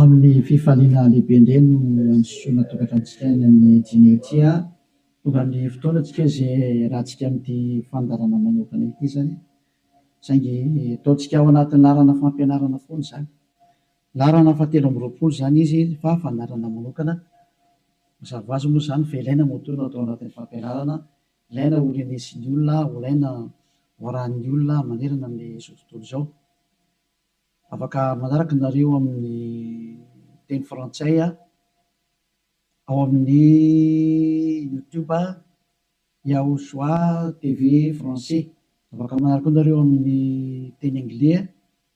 Amin'ny fifaliana lehibe indray no androsoana tokantranontsika any amin'ny dimy eo ity an! Tonga ny fotoana antsika izay hiarahantsika amin'ity fandaharana manokana ity izany, saingy ataontsika ao anaty laharana fampianarana foana izany. Laharana fahatelo amby roapolo izany izy fa fandaharana manokana. Mazava ho azy moa izany fa ilaina ny ho tolona tao anatin'ny fampianarana, ilaina ho renesin'ny olona, ho ilaina ho arahin'ny olona manerana amin'izao tontolo izao. Afaka manaraka nareo amin'ny teny frantsay ao amin'ny youtube Yahushua TV français. Afaka manaraka koa nareo amin'ny teny anglais.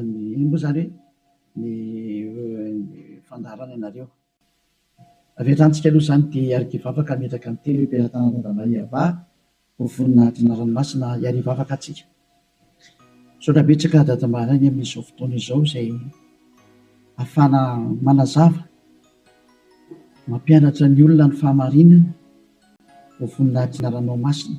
Ny ino moa izany hoe ny fandaharana ianareo? Avy hatrany tsika aloha izany dia hiariki vavaka hametraka ny teny hoe Mpiratana Randambahy Yavah ho voninahitry ny anarany masina hiari vavaka atsika. Misaotra betsaka Dada Maharainy amin izao fotoana izao izay afahana manazava, mampianatra ny olona ny fahamarinana ho voninahitry ny anarano masina.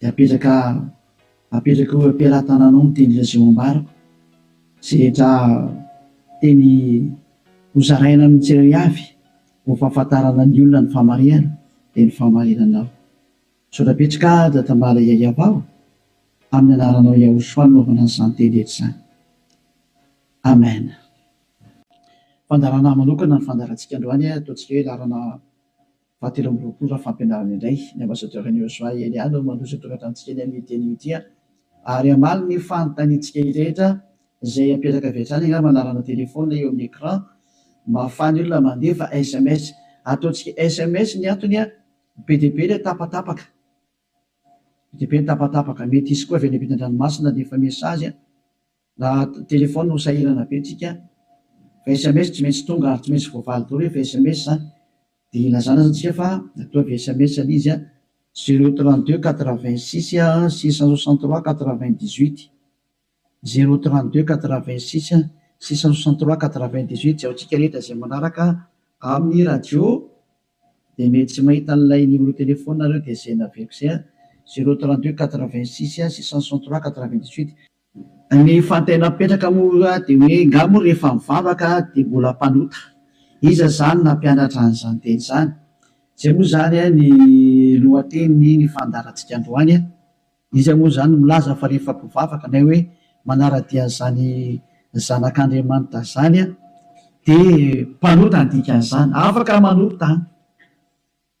Dia apetraka apetraka eo am-pelatananao ny teny Jesoa ambarako, izay rehetra teny hozaraina amin'ny tsirairay avy ho fahafantarana ny olona ny famarihana dia ny fahamarinanao. Misaotra betsaka Aja Tambala Yayab aho amin'ny anaranao Yahoshua no anaovana an'izany teny rehetra izany. Amen. Fandaharana manokana ny fandaharantsika androany, ataontsika hoe laharana. Fahatelo amby roapolo raha fampianarana indray, ny Ambasadaoro Henry Joshua Eliade no mandroso ny tokantranotsika eny amin'io teny io ity ary hamaly ny fanontaniantsika rehetra izay apetaka avy hatrany angamba anarana telephone eo amin'ny écran mba hahafahan'ny olona mandefa sms ataontsika sms ny antony be dia be ilay tapatapaka be dia be ny tapatapaka mety hisy koa avy any ampitan-dranomasina ny efa message Na telefaonina no sahirana be tsika fa sms tsy maintsy tonga ary tsy maintsy voavaly daholo rehefa sms zany de ilazana zany tsika fa ataovy sms le izy a, zero trente deux quatre vingt six six cent soixante trois quatre vingt dix huit, zero trente deux quatre vingt six six cent soixante trois quatre vingt dix huit, zay antsika rehetra zay manaraka amin'ny radio de mety tsy mahita an'ilay numéro telefaoninareo de zay naveriko zay a, zero trente deux quatre vingt six six cent soixante trois quatre vingt dix huit. Ny fantena mipetraka moa dia hoe nga moa rehefa mivavaka dia mbola mpanota? Iza izany nampianatra an'izany teny izany? Izay moa izany ny lohatenin'ny ny fandaharantsika androany. Iza moa izany no milaza fa rehefa mpivavaka na hoe manara-dia an'izany zanak'Andriamanitra izany dia mpanota ny dikan'izany? Afaka manota an!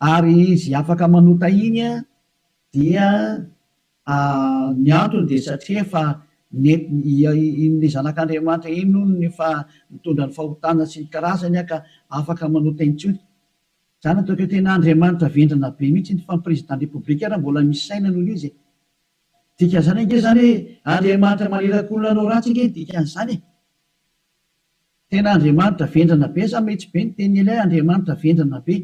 Ary izy afaka manota iny an, dia ny antony dia satria efa iny zanak'Andriamanitra iny hono no efa nitondra ny fahotana sy ny karazany an ka afaka manota intsony. Zany ataoko hoe tena Andriamanitra vendrana be mihitsy iny fa ny président de république ary mbola misy saina noho izy e! Dikan'izany ange zany hoe Andriamanitra manirakolona anao ratsy ange ny dikan'izany e! Tena Andriamanitra vendrana be sa mety be ny teny ela Andriamanitra vendrana be.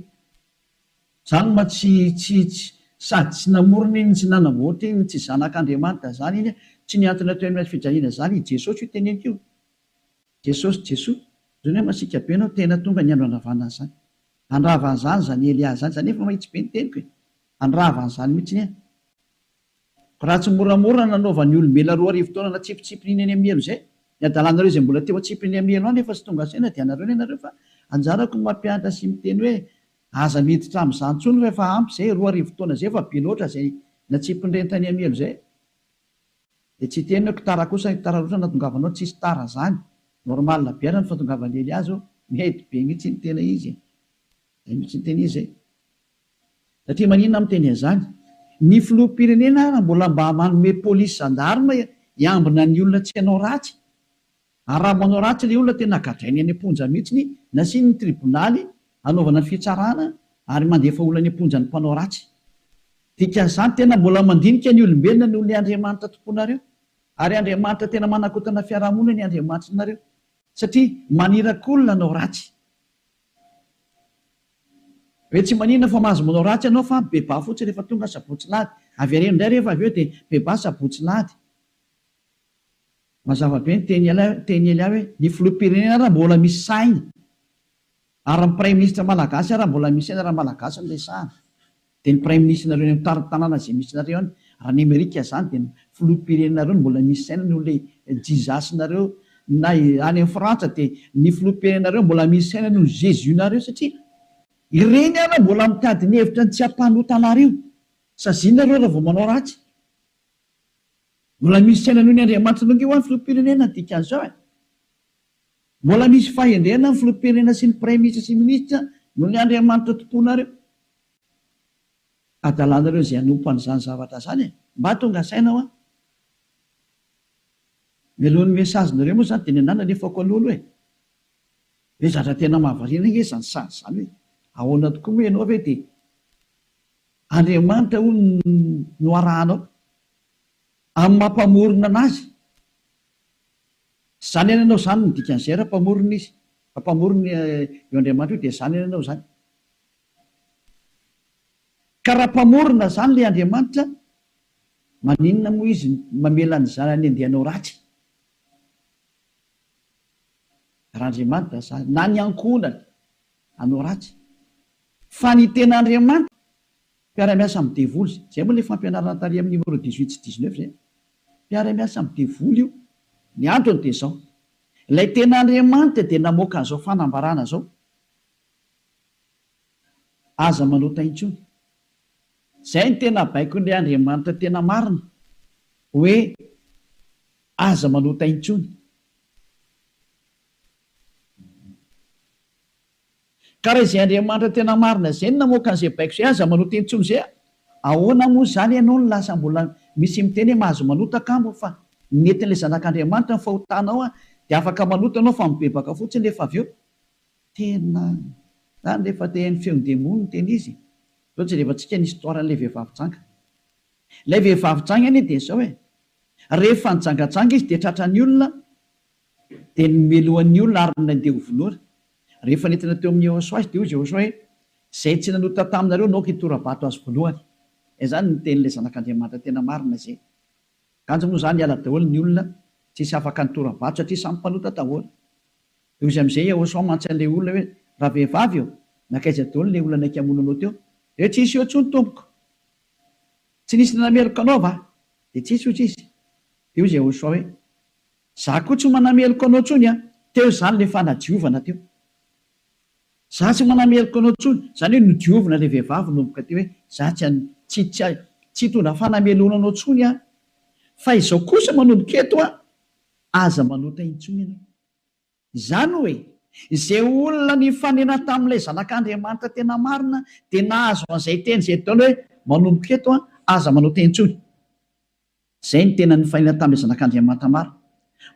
Zany ma tsy tsy tsy sady tsy namorona iny tsy nanamboatra iny tsy zanak'Andriamanitra zany iny tsy ny antony atao eny fijaliana zany i Jesosy io teneniko io. Jesosy Jesoa zany hoe masiaka be anao tena tonga ny andro handravana an'zany. Handrava an'zany zany Elia zany zany efa mahitsy be ny teniko e. Handrava an'zany mitsiny e. Raha tsy moramora nanaovan'ny olombelona roa arivo taona natsipitsipin'iny any amielo izay, ny hadalanareo izay mbola teo atsipin'ny amielo any efa tsy tonga saina dia anareo ny anareo fa anjarako ny mampianatra sy miteny hoe aza miditra amin'izany intsony fa efa ampy izay, roa arivo taona izay efa be loatra izay natsipin'ireny tany amielo izay dia tsy hiteny aho, tara kosa ny tara loatra nahatongavanao, tsisy tara izany, normal be ary ny fahatongavan'i Eliazo, mety be mihintsy ny tena izy e! izay mihintsy ny tena izy e! Satria maninona aho miteny an'izany? Ny filoham-pirenena ary mbola mba manome polisy zandarma hiambina ny olona tsy hanao ratsy. Ary raha manao ratsy ilay olona tena gadrainy any am-ponja mihitsy, nasiany ny tribonaly hanaovana fitsarana ary mandefa olona any am-ponja ny mpanao ratsy. Dikan'izany tena mbola mandinika ny olombelona noho ny Andriamanitra tomponareo. Ary Andriamanitra tena manakotana fiarahamonina ny Andriamanitrinareo. Satria maniraky olona hanao ratsy. Ve tsy maninona fa mahazo manao ratsy ianao fa bebà fotsiny rehefa tonga sabotsy lahady. Avereno indray rehefa avy eo dia bebà sabotsy lahady. Mazava be ny teny Elia hoe ny filoham-pirenena ary mbola misy saina ary ny praiminisitra malagasy ary mbola misy saina raha malagasy no resahana. Dia ny praiminisitrinareo eny amin'ny tanàna izay misy nareo any raha any amerika zany dia ny filoham-pirenenareo no mbola misy saina noho ilay jizasinareo na any amin'ny frantsa dia ny filoham-pirenenareo mbola misy saina noho ny jesus nareo satria ireny ary mbola mitady ny hevitra ny tsy hampanota anareo saziana reo raha vao manao ratsy mbola misy saina noho ny andriamanitra nareo ve hoany filoham-pirenena dikan'izao e. Mbola misy fahendrena ny filoham-pirenena sy ny praiminisitra sy minisitra noho ny Andriamanitra tomponareo. Adalanareo izay hanompo an'izany zavatra izany e! Mba tonga saina hoa. Mialoha ny message nareo moa izany dia ny anah nalefako aloha aloha e! Ve zatra tena mahavariana nge izany sazy izany hoe ahoana tokoa moa ianao ve dia Andriamanitra hono no arahanao amin'ny maha mpamorona anazy? Zany any anao zany ny dikany zay ra mpamorona izy fa mpamorona io Andriamanitra io dia zany any anao zany ka ra mpamorona zany le Andriamanitra maninona moa izy mamela ny zanany handeha hanao ratsy ra Andriamanitra zany na ny ankohonany hanao ratsy fa ny tena Andriamanitra Mpiara-miasa amin'ny devoly izay. Izay moa ilay fampianarana tary amin'ny numéro dix-huit sy dix-neuf izay an. Mpiara-miasa amin'ny devoly io. Ny antony dia izao. Ilay tena Andriamanitra dia namoaka an'izao fanambarana izao. Aza manota intsony. Izay no tena baikon'ilay Andriamanitra tena marina. Hoe aza manota intsony. Ka raha izay Andriamanitra tena marina izay no namoaka an'izay baiko izay aza manota intsony izay a! Ahoana moa izany ianao no lasa mbola misy miteny hoe mahazo manota kamo fa ny netin'ilay zanak'Andriamanitra no fahotanao a! Dia afaka manota ianao fa mibebaka fotsiny rehefa avy eo. Tena izany rehefa te haino feon'ny demony no tena izy e! Izao jerevantsika ny histoire an'ilay vehivavy janga. Ilay vehivavy janga anie dia izao e! Rehefa nijangajanga izy dia tratran'ny olona Dia nomelohany ny olona ary nandeha ho vonoina. Rehefa nentina teo amin'i Jehosoa azy, dia hoy Jehosoa hoe, Izay tsy nanota taminareo, naoka hitora-bato azy voalohany. Izany no tenin'ilay Zanak'Andriamanitra tena marina izay. Kanjo moa izany hiala daholo ny olona, tsy hisy afaka nitora-bato satria samy mpanota daholo. Dia hoy izy amin'izay, Jehosoa mantsy an'ilay olona hoe, Ravehivavy ô, nankaiza daholo ilay olona naika hamono anao teo? Dia hoe, Tsy nisy eo intsony, tompoko. Tsy nisy nanameloka anao va? Dia tsy nisy, hoy izy. Dia hoy Jehosoa hoe, Za koa tsy manameloka anao tsony an! Teo izany le fanadiovana teo. Za tsy manameloka anao tsony, zany hoe nodiovina le vehivavy nomboka teo hoe za tsy an, tsy, tsy, tsy hitondra fanameloana anao tsony aho. Fa izao kosa manomboka eto an, aza manota intsony ianao. Izany hoe, izay olona nifanena tamin'ilay zanak'Andriamanitra tena marina dia nahazo an'izay teny izay daholo hoe manomboka eto an, aza manota intsony. Izay no tena nifainany tamin'ilay Zanak'Andriamanitra maro.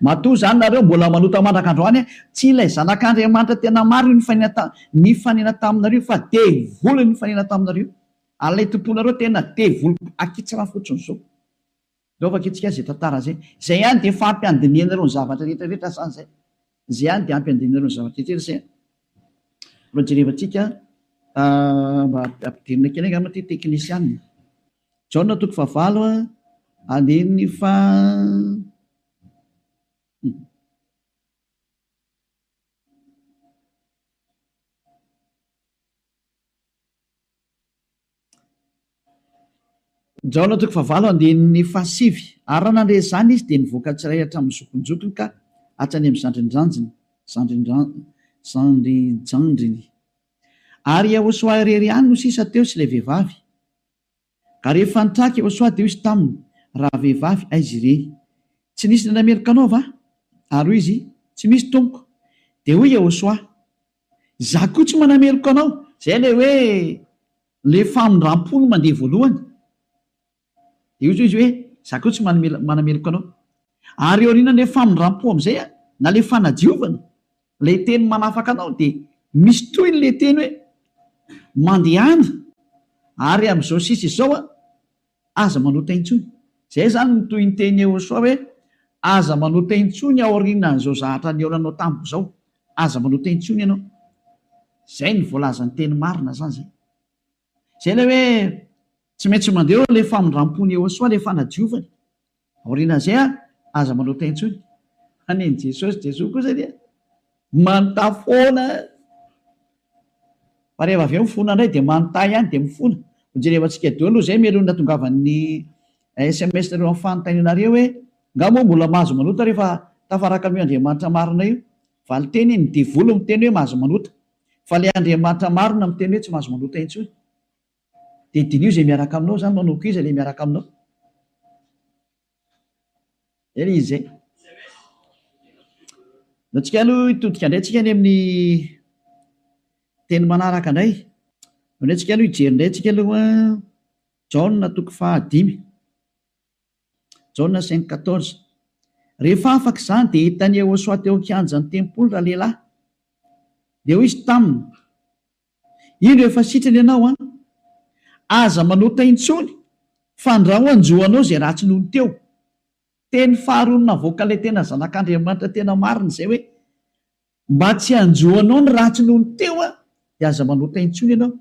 Matoa izany nareo mbola manota mandraka androany an! Tsy ilay Zanak'Andriamanitra tena maro io nifainana nifanena taminareo io fa devoly nifanena taminareo io. Ary ilay tomponareo tena devoly ankitsirano fotsiny izao. Reo vakitsika izay tantara izay. Izay ihany dia efa ampy handinihanareo ny zavatra rehetra rehetra asa izay. Izay ihany dia ampy handinihanareo ny zavatra rehetra rehetra izay. Reo jerevantsika mba ampidirina kely angamba ity teknisianina. Jaona toko fahavalo andininy fahasivy Ary raha nandre izany izy, dia nivoaka tsy iray hatramin'ny zokinjokiny ka hatrany amin'ny zandrinjandriny, zandrinjandriny. Ary Iehosoa irery ihany no sisa teo sy ilay vehivavy. Ary rehefa nitraka i Ôsoa dia hoy izy taminy, Ravehivavy, aiza ireny? Tsy nisy nandray meloka anao va? Ary hoy izy, Tsy misy, tompoko. Dia hoy i Ôsoa, Izaho koa tsy manameloka anao. Izay ilay hoe ilay famindram-po no mandeha voalohany. Dia hoy izy hoe, Izaho koa tsy manameloka anao. Ary aorianan'ilay famindram-po amin'izay, na ilay fanadiovana, Ilay teny manafaka anao dia misy tohiny ilay teny hoe mandehana ary amin'izao sisa izao an, aza manota intsony. Izay izany no tohin'ny tenin'i Yehosua hoe aza manota intsony aorianan'izao zahatra nihaonanao tamiko izao. Aza manota intsony ianao. Izay no voalazan'ny teny marina izany izay. Izay ilay hoe tsy maintsy mandeha eo ilay famindram-pony Iehosoa, ilay fanadiovany. Aorianan'izay ary, aza manota intsony. Fa nen'i Jesosy, Jesoa kosa dia manontà foana. Fa rehefa avy eo mifona indray dia manontà ihany dia mifona. Ho jerevantsika eo aloha izay melohin'ny natongavan'ny sms nareo amin'ny fanontanianareo hoe nga moa mbola mahazo manota rehefa tafaraka amin'io Andriamanitra marina io? Valinteny, ny devoly miteny hoe mahazo manota. Fa ilay Andriamanitra marina miteny hoe tsy mahazo manota intsony. Dia diniho izay miaraka aminao izany, manoako iza ilay miaraka aminao. Eny izy izay. Dia antsika aloha hitodika indray antsika any amin'ny teny manaraka indray. Indray antsika aloha hijery indray antsika aloha Jaona toko fahadimy. Jaona cinq quatorze. Rehefa afaka izany dia hitan'i Iehosoa teo an-kianjan'ny tempoly ralehilahy. Dia hoy izy taminy, Indro efa sitrana ianao an! Aza manota intsony, fandrao hanjo anao izay ratsy nony teo. Teny faharoa navoakan'ilay tena Zanak'Andriamanitra tena marina izay hoe. Mba tsy hanjo anao ny ratsy noho ny teo aho, dia aza manota intsony ianao.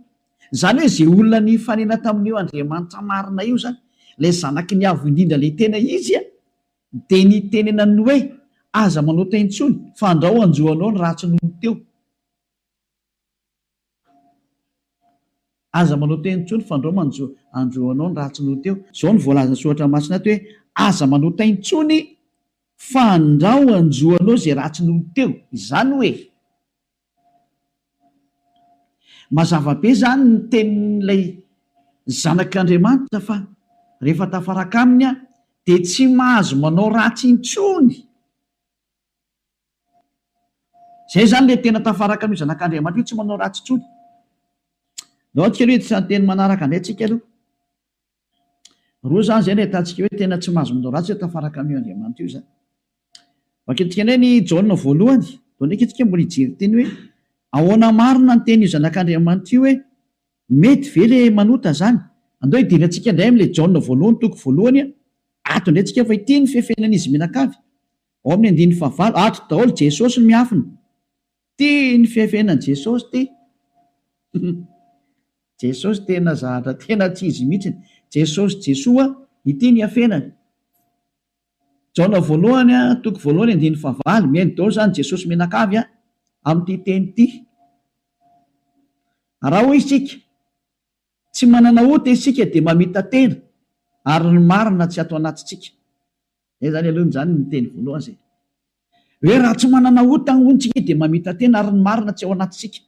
Izany hoe izay olona nifanena tamin'io Andriamanitra marina io izany, ilay Zanaky ny Avo Indrindra ilay tena izy, dia nitenenany hoe, Aza manota intsony, fa andrao hanjo anao ny ratsy noho ny teo. Aza manao teny intsony fa ndrao manjo andro anao ny ratsy noho teo. Zao no voalazan'ny soratra masina ato hoe, aza manao teny intsony fa ndrao hanjo anao izay ratsy noho teo. Izany hoe, mazava be izany ny tenin'ilay zanak'Andriamanitra fa rehefa tafaraka aminy aho dia tsy mahazo manao ratsy intsony. Izay izany ilay tena tafaraka amin'io zanak'Andriamanitra io, tsy manao ratsy intsony. Andao antsika aloha hiditra ny teny manaraka indray tsika aloha. Roa izany izay no ahitantsika hoe tena tsy mahazo manao ratsy izay tafaraka amin'io Andriamanitra io izany. Vakintsika indray ny Jaona voalohany, vao ndraika isika mbola hijery ny teny hoe ahoana marina ny tenin'io zanak'Andriamanitra io hoe mety ve ilay manota izany. Andao hidera antsika indray amin'ilay Jaona voalohany toko voalohany ato indray tsika fa ity ny fefenan'izy mianakavy. Ao amin'ny andininy fahavalo, ato daholo Jesosy no miafina. Tia ny fihafenany Jesosy ty. Jesosy tena zahatra tena tsy izy mihitsy. Jesosy Jesoa ity ny hafenany. Jaona voalohany a, toko voalohany andininy fahavalo, mihaino daholo zany Jesosy mianakavy a, amin'ity teny ty. Raha hoy isika, tsy manana ota isika dia mamita-tena ary ny marina tsy ato anatintsika. Zay zany aloha zany ny teny voalohany zay hoe raha tsy manana ota hono tsika dia mamita tena ary ny marina tsy ao anatintsika.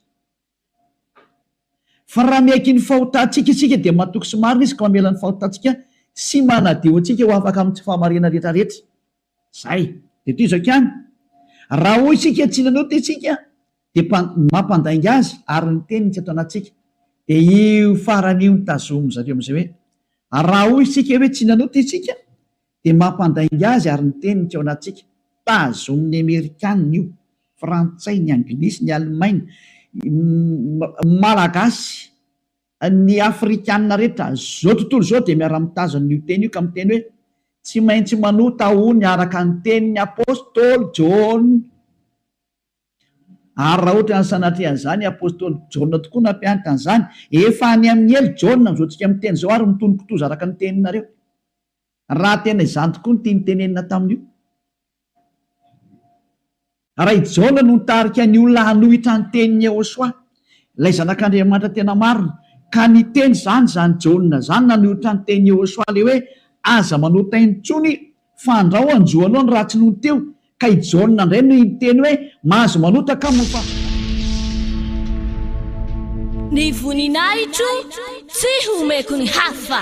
Fa raha miaiky ny fahotantsika isika dia matoky sy marina izy ka mamela ny fahotantsika sy manadio antsika ho afaka amin'ny tsy fahamariana rehetra rehetra. Zay. Dia toy izao ihany, raha hoy isika tsy nanao ota isika dia mpa, mampandainga azy ary ny teniny tsy ato anatintsika. Dia io farany io no tazomin-dry zareo amin'izay hoe raha hoy isika hoe tsy nanota isika Dia mampandainga azy ary ny teniny tsy ao anatintsika. Tazonin'ny Amerikana io, Frantsay, ny Anglisy, ny Alemaina, ny Malagasy, ny Afrikana rehetra izao tontolo izao dia miara-mitazona io teny io ka miteny hoe, Tsy maintsy manota hono araka ny tenin'ny Apostoly Jaona. Ary raha ohatran'ny sanatria an'izany i Apostoly Jaona tokoa nampianatra an'izany, efa any amin'ny helo Jaona amin'izao tsika miteny izao ary mitonon-kitoza araka ny teninareo. Raha tena izany tokoa ny tiany tenenina tamin'io. Raha i Jaona no nitarika ny olona hanohitra ny tenin'i Yehosua, ilay Zanak'Andriamanitra tena marina, ka niteny izany izany Jaona izany nanohitra ny tenin'i Yehosua ilay hoe, Aza manota intsony, fandrao hanjo anao ny ratsy nony teo, Ka i Jaona indray no hiteny hoe, Mahazo manota ka moa fa. Ny voninahitro tsy homeko ny hafa.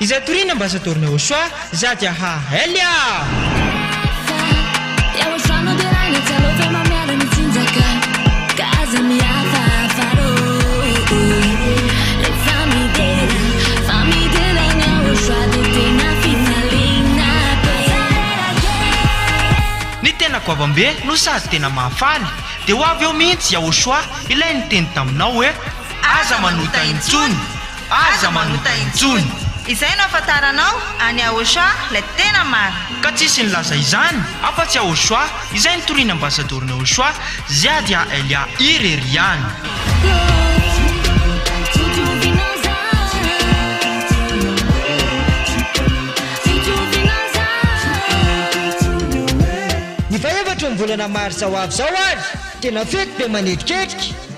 Izay toriana ambassador na Ochoa za dia ha elle ah! Ny tena goavambe no sady tena mahafaly dia ho avy eo mihitsy Yahoshua ilay niteny taminao hoe aza manota intsony! Aza manota intsony. Izay no afantaranao an'i Ahosoa ilay tena marina. Ka tsisy nilaza izany afa tsy Ahosoa izay nitorian'i Ambassador Nahosoa Ziadia Elia irery ihany. Ny faha efatra ny volana marsa ho avy izao ary tena fety be manetriketrika.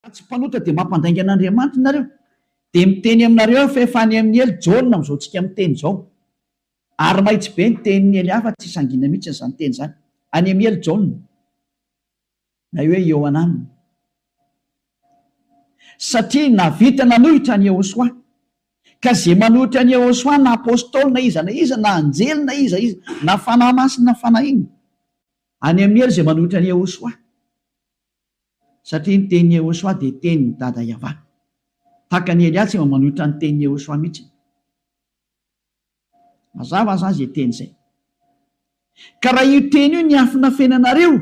Raha tsy mpanota dia mampandainga an'Andriamanitra nareo, dia miteny aminareo aho fa efa any amin'i Ely Jaona amin'izao tsika miteny izao. Ary mahitsy be ny tenin'i Ely hafa tsy sangina mihitsy izany teny izany, any amin'i Ely Jaona, na hoe Iohanan. Satria navita nanohitra an'i Iehosoa. Ka ze manohitra an'i Iehosoa na Apostoly na iza na iza na anjely na iza iza na fanahy masina na fanahy inona, any amin'i Ely ze manohitra an'i Iehosoa. Satria ny tenin'i Yehosua dia tenin'i Dada Yavah. Tahaka an'i Elia tsy mba manohitra ny tenin'i Yehosua mihitsy. Mazava azany izay teny izay. Ka raha io teny io niafina fenanareo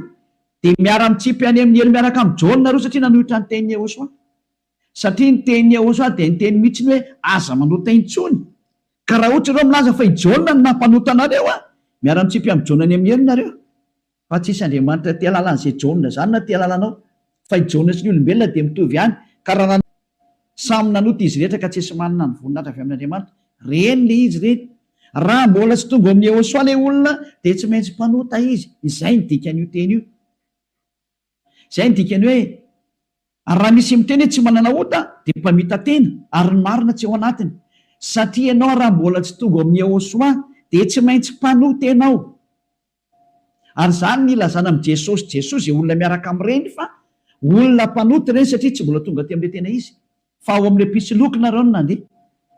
dia miara mitsipy any amin'ny helo miaraka amin'i Jaona nareo satria nanohitra ny tenin'i Yehosua. Satria ny tenin'i Yehosua dia niteny mihitsy ny hoe aza manota intsony. Ka raha ohatra ianao milaza fa i Jaona no nampanota anareo an! miara mitsipy amin'i Jaona any amin'ny helo nareo. Fa tsisy Andriamanitra tia lalana izay Jaona izany na tia lalana ao. Fa i Jaona sy ny olombelona dia mitovy ihany, ka raha nanota, samy nanota izy rehetra ka tsisy manana ny voninahitra avy amin'Andriamanitra. Reny le izy reny. Raha mbola tsy tonga ao amin'i Yehosua le olona dia tsy maintsy mpanota izy. Izay ny dikan'io teny io. Izay ny dikany hoe, ary raha misy miteny hoe tsy manana ota dia mpamita-tena ary ny marina tsy ao anatiny. Satria ianao raha mbola tsy tonga ao amin'i Yehosua dia tsy maintsy mpanota ianao. Ary izany no ilazana amin'i Jesosy Jesosy izay olona miaraka amin'ireny fa olona mpanota ireny satria tsy mbola tonga aty amin'ilay tena izy fa ao amin'ilay mpisoloky nareo no nandeha.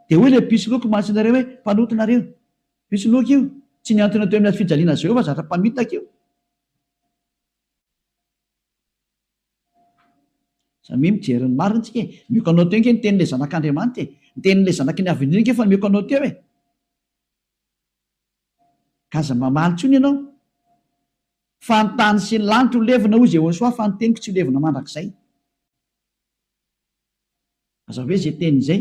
Dia hoy ilay mpisoloky mahatsy anareo hoe mpanota nareo. Mpisoloky io. Tsy mihantona teo amin'ny hazo fijaliana Jehovah fa zatra mpamitaka io. Samia mijery ny marina tsika e. Mioko anao teo nge ny tenin'ilay zanak'Andriamanitra e. Ny tenin'ilay zanaky ny havendrena nge efa mioko anao teo e. Ka aza mamaly intsony ianao fa ny tany sy ny lanitra ho levona hoy Jehosoa fa ny teniko tsy ho levona mandrakizay. Mazava ve izay teniny izay?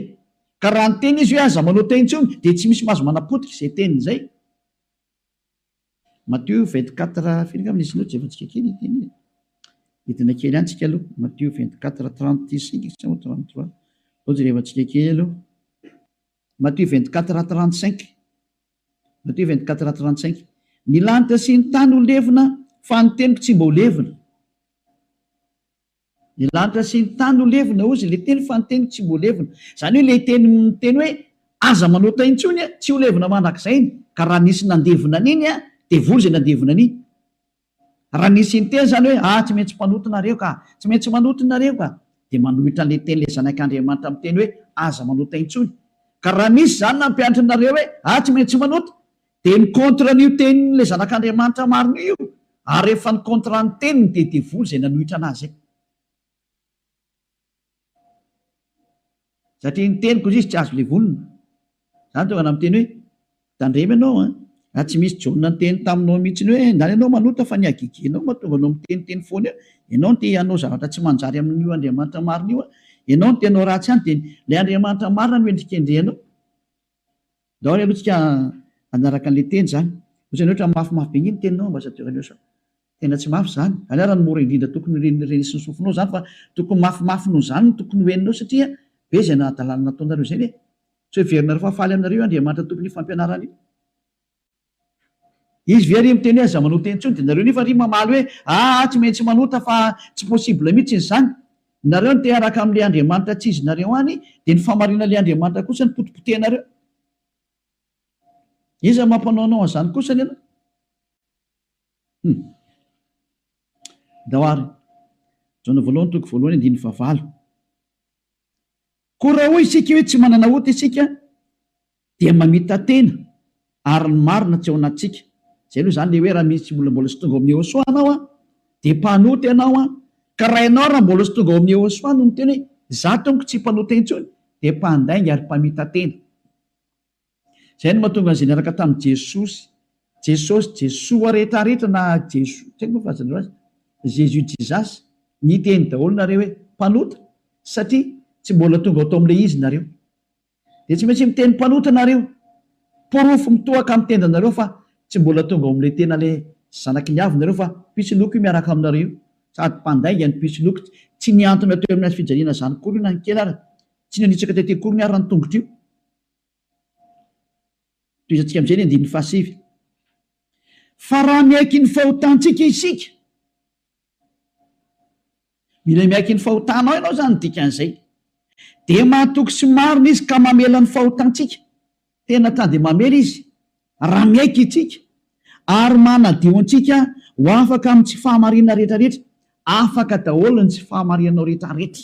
Ka raha niteny izy hoe aza manao teny intsony dia tsy misy mahazo manapotika izay teniny izay. Matio 24, firy angamba ny isin'io tsy efa antsika kely ity anie. Hidina kely any tsika aloha, Matio 24, 35 sa 33. Ohatra rehefa antsika kely aloha. Matthieu vingt quatre à trente cinq Matthieu vingt quatre à trente cinq Ny lanitra sy ny tany ho levona fa ny teniko tsy mba ho levona Ny lanitra sy ny tany ho levona hozy ilay teny fa ny teniko tsy mba ho levona Izany hoe ilay teny miteny hoe aza manota intsony tsy ho levona mandrakizay ny ka raha nisy nandevona an'iny dia voa izay nandevona an'iny Raha ny sinteny izany hoe, ah, tsy maintsy mpanota nareo ka, tsy maintsy manota nareo ka, dia manohitra an'ilay teny ilay Zanak'Andriamanitra miteny hoe, aza manota intsony. Ka raha misy izany nampianatra anareo hoe, ah, tsy maintsy manota, dia ny contre an'io tenin'ilay Zanak'Andriamanitra marina io, ary rehefa ny contrat ny teniny dia devoly izay nanohitra anazy izay. Satria ny teniko indrisy tsy azo levonina. Izany tonga anao miteny hoe, tandremo ianao an! Raha tsy misy Jaona niteny taminao mihitsiny hoe, enga anie ianao manota fa ny hagegenao mahatonga anao miteniteny foana eo. Ianao no te hanao zavatra tsy manjary amin'io Andriamanitra marina io an! Ianao no te hanao ratsy ihany dia ilay Andriamanitra marina no hendrikendrehanao. Daholo aloha tsika hanaraka anle teny zany. Otrany hoe otrany mafy mafy be ngeh ny teninao ambassadeur anio sao tena tsy mafy zany. Anao raha ny mora indrindra tokony ho ren'isy ny sofinao zany fa tokony mafy mafy noho zany no tokony ho henonao satria be zay nahadalana nataonareo zay ve? Tsy hoe heverinareo fa faly aminareo io Andriamanitra tompon'io fampianarana io. Izy ve ry miteny hoe aza manota intsony dia nareo nefa ry mamaly hoe aa tsy maintsy manota fa tsy possible mitsy izany. Nareo no te hiaraka amle Andriamanitra tsy izy nareo any dia ny fahamarinanle Andriamanitra kosa no potipotehinareo. Iza mampanao anao anzany kosa anie anao? Hum. Ndao ary. Jaona voalohany toko voalohany andininy fahavalo. Koa raha hoy isika hoe tsy manana ota isika, dia mamita-tena ary ny marina tsy ao anatintsika, izay aloha izany le hoe raha misy tsy mbola mbola tsy tonga ao amin'ny Yehosua anao an, dia mpanota ianao an, ka raha ianao raha mbola tsy tonga ao amin'ny Yehosua no miteny hoe za tompoko tsy mpanota intsony dia mpandainga ary mpamita-tena. Izay no mahatonga an'izay niaraka tamin'i Jesosy, Jesosy, Jesoa rehetra rehetra na Jesoa, tsy haiko moa fahazarana azy, Jésus, Jesus, niteny daholo nareo hoe mpanota satria tsy mbola tonga ao tao amin'ilay izy nareo. Dia tsy maintsy miteny mpanota nareo. Porofo mitohaka amin'ny tendanareo fa tsy mbola tonga ao amin'ilay tena ilay zanaky ny avy nareo fa pitsiloko io miaraka aminareo io. Sady mpandainga ny pitsiloko. Tsy nihantona teo amin'ny hazo fijaliana zany akory io na ny kely ary. Tsy nanitsaka tety akory ny ary ny tongotro io. Tohizantsika amin'izay ny andininy fahasivy. Fa raha miaiky ny fahotantsika isika. Mila miaiky ny fahotanao ianao izany no dikan'izay. Dia mahatoky sy marina Izy ka mamela ny fahotantsika. Tena ta dia mamela Izy raha miaiky isika ary manadio antsika ho afaka amin'ny tsy fahamarinana rehetrarehetra. Afaka daholo ny tsy fahamarinanao rehetrarehetra.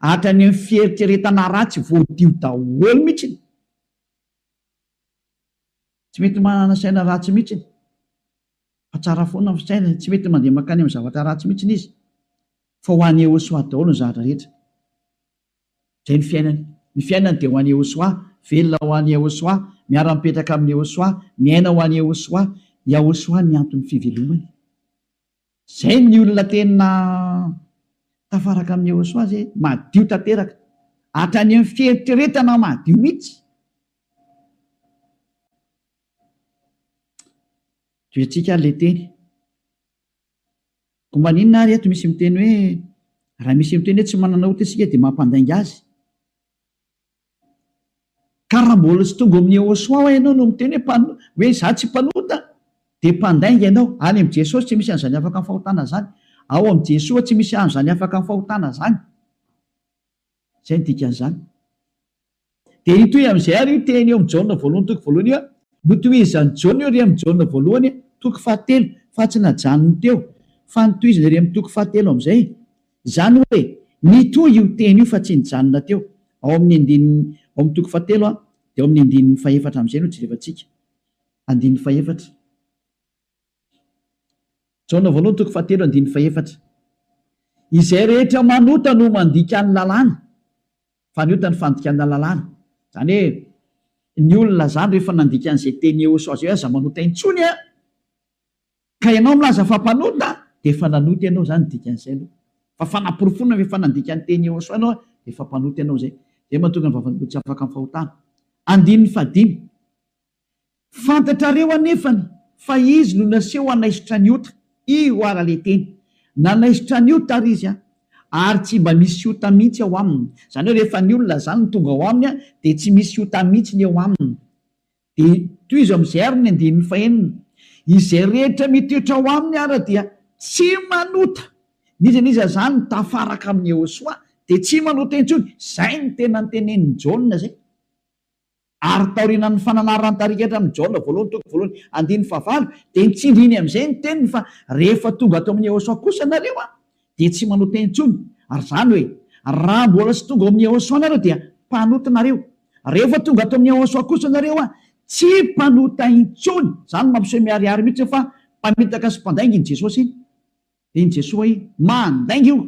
Hatrany amin'ny fieritreretana ratsy voadio daholo mihitsy. Tsy mety manana saina ratsy mihitsy. Fa tsara foana ny fisainany, tsy mety mandeha mankany amin'ny zavatra ratsy mihitsy izy, fa ho an'i Yehosoa daholo ny zavatra rehetra. Izay ny fiainany. Ny fiainany dia ho an'i Yehosoa, velona ho an'i Yehosoa, miara-mipetraka amin'i Yehosoa, miaina ho an'i Yehosoa. Yahosoa ny anton'ny fivelomany. Izay ny olona tena tafaraka amin'i Yehosoa izay, madio tanteraka, hatrany amin'ny fieritreretana madio mihitsy. Toetsika ary ilay teny. Koa maninona ary eto misy miteny hoe raha misy miteny hoe tsy manana ota isika dia mampandainga azy? Ka raha mbola tsy tonga ao amin'ny Yehoswa ho'a ianao no miteny hoe mpan- hoe izaho tsy mpanota dia mpandainga ianao. Any amin'i Jesosy tsy misy an'izany afaka amin'ny fahotana izany. Ao amin'i Jesoa tsy misy an'izany afaka amin'ny fahotana izany. Izay no dikan'izany. Dia hitohy amin'izay àry io teny eo amin'ny Jaona voalohany toko voalohany io, Notohizan'i Jaona io re amin'ny Jaona voalohany toko fahatelo, fa tsy najanony teo, fa notohizany re amin'ny toko fahatelo amin'izay. Izany hoe nitohy io teny io fa tsy nijanona teo. Ao amin'ny andininy, ao amin'ny toko fahatelo an, dia ao amin'ny andininy fahefatra amin'izay no jerevantsika. Andininy fahefatra. Jaona voalohany toko fahatelo andininy fahefatra Izay rehetra manota no mandika ny lalàna, fa ny ota ny fandikana lalàna. Izany hoe, ny olona izany rehefa nandika an'izay teny Yehosua izay hoe aza manota intsony an, ka ianao milaza fa mpanota, dia efa nanota ianao izany ny dikan'izay aloha. Fa fanaporofoana fa efa nandika ny teny Yehosua ianao dia efa mpanota ianao izay. Izay no mahatonga ny vavan'olona tsy afaka amin'ny fahotana. Andininy fahadimy. Fantatrareo anefany fa izy no naseho hanaisotra an'i Ota, io ara le teny. Nanaisotra an'i Ota ary izy an! Ary tsy mba misy Ota mihitsy ao aminy. Izany hoe rehefa ny olona izany no tonga ao aminy dia tsy misy Ota mihitsy ny eo aminy. Dia tohizo amin'izay ary ny andininy fahenina, Izay rehetra mitoetra ao aminy ara dia tsy manota. N'iza n'iza izany tafaraka amin'i Iehosoa dia tsy manota intsony. Izay no tena notenenin'i Jaona izay. Ary taorianan'ny fananaran-tarikatra amin'i Jaona voalohany toko voalohany andininy fahavalo dia nitsindriny amin'izay ny teniny fa rehefa tonga ato amin'i Yehosua kosa nareo an, dia tsy manao teny intsony, ary izany hoe, raha mbola tsy tonga ao amin'i Yehosua nareo dia mpanota nareo, rehefa tonga ato amin'i Yehosua kosa nareo an, tsy mpanota intsony, izany mampiseho miharihary mihitsy fa mpamitaka sy mpandainga iny Jesosy iny, dia iny Jesoa iny mandainga io.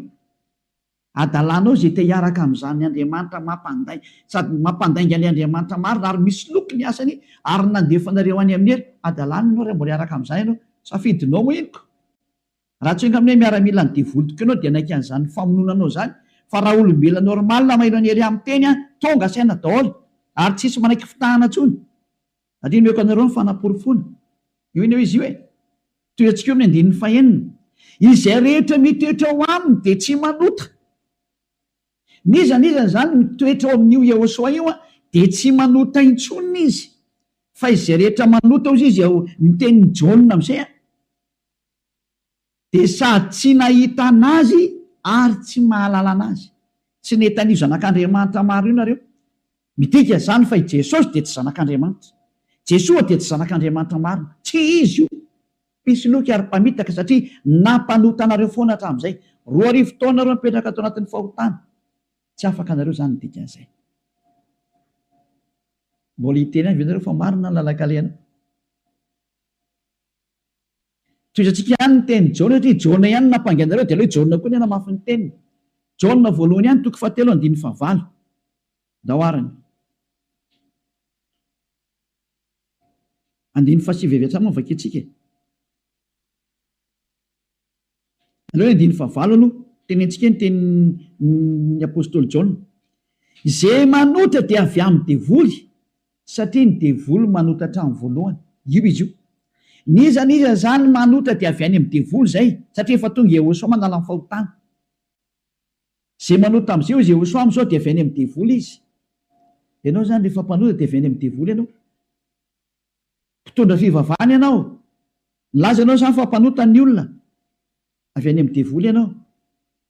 Hadalanao izay te hiaraka amin'izany Andriamanitra mampandainga sady mampandainga ny Andriamanitra marina ary misoloky ny asany ary ny nandefanareo any amin'ny hery hadalany ianao raha mbola hiaraka amin'izany ianao. Safidinao henoko. Raha tsy enga aminay miaramilan'ny devoly tokoa ianao dia hanaiky an'izany famonoana anao izany fa raha olombelona normal mailo an'i Hery amin'ny teny an, tonga saina daholo ary tsisy manaiky fitahana intsony. Andriana omeko anareo ny fanaporofoana io anie hoe izy io e! Toy antsika eo amin'ny andininy fahenina, Izay rehetra mitoetra ao aminy dia tsy manota. N'iza n'iza izany mitoetra ao amin'io Iehoswa io dia tsy manota intsony izy, fa izay rehetra manota hozy izy ao ny tenin'i Jaona amin'izay a! Dia sady tsy nahita an'Azy ary tsy mahalala an'Azy. Tsy nety an'io Zanak'Andriamanitra maro io nareo. Midika izany fa i Jesosy dia tsy Zanak'Andriamanitra. Jesoa dia tsy Zanak'Andriamanitra marina. Tsy Izy io. Mpisoloky ary mpamitaka satria nampanota anareo foana hatramin'izay. Roa arivo taona nareo mipetraka ato anatin'ny fahotana. Tsy afaka nareo izany ny dikan'izay. Mbola hiteny ihany ve nareo fa marina ny lalan-kalehana? Tohizantsika ihany ny tenin'i Jaona satria Jaona ihany no nampangaina anareo dia aleo Jaona koa ny hanamafy ny teniny. Jaona voalohany ihany toko fahatelo andininy fahavalo. Ndao ary ny. Andininy fahasivy avy hatrany no vakintsika e. Aleo andiny fahavalo aloha tenentsika ny tenin'ny apostoly Jaona, Izay manotra dia avy amin'ny devoly, satria ny devoly manota hatramin'ny voalohany. Io izy io. N'iza n'iza izany manotra dia avy any amin'ny devoly izay, satria efa tonga i Iehosoa manala ny fahotana. Izay manota amin'izay hoy Iehosoa amin'izao dia avy any amin'ny devoly izy. Ianao izany rehefa mpanota dia avy any amin'ny devoly ianao. Mpitondra fivavahana ianao? Nilaza ianao izany fa mpanota ny olona? Avy any amin'ny devoly ianao?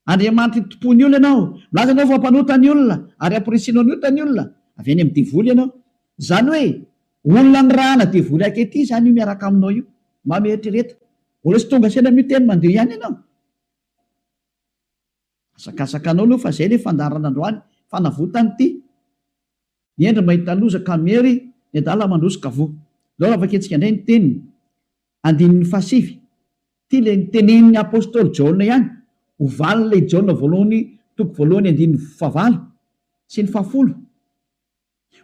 Andriamanitra itompoa ny olona ianao? Milaza ianao fa mpanota ny olona ary ampirisihinao ny ota ny olona? Avy any amin'ny devoly ianao? Izany hoe olona nirahana devoly ankehitriny izany io miaraka aminao io? Mba mieritrereta. Mbola tsy tonga saina miteny mandeha ihany ianao? Hazakazakanao aloha fa zay le fandaharana androany fanavotany ty ny hendry mahita loza ka miery ny adala mandroso ka voa zao raha vakintsika indray ny teniny andininy fahasivy ty le nitenenin'ny apostoly jaona ihany ho valin'ilay jaona voalohany toko voalohany andininy fahavalo sy ny fahafolo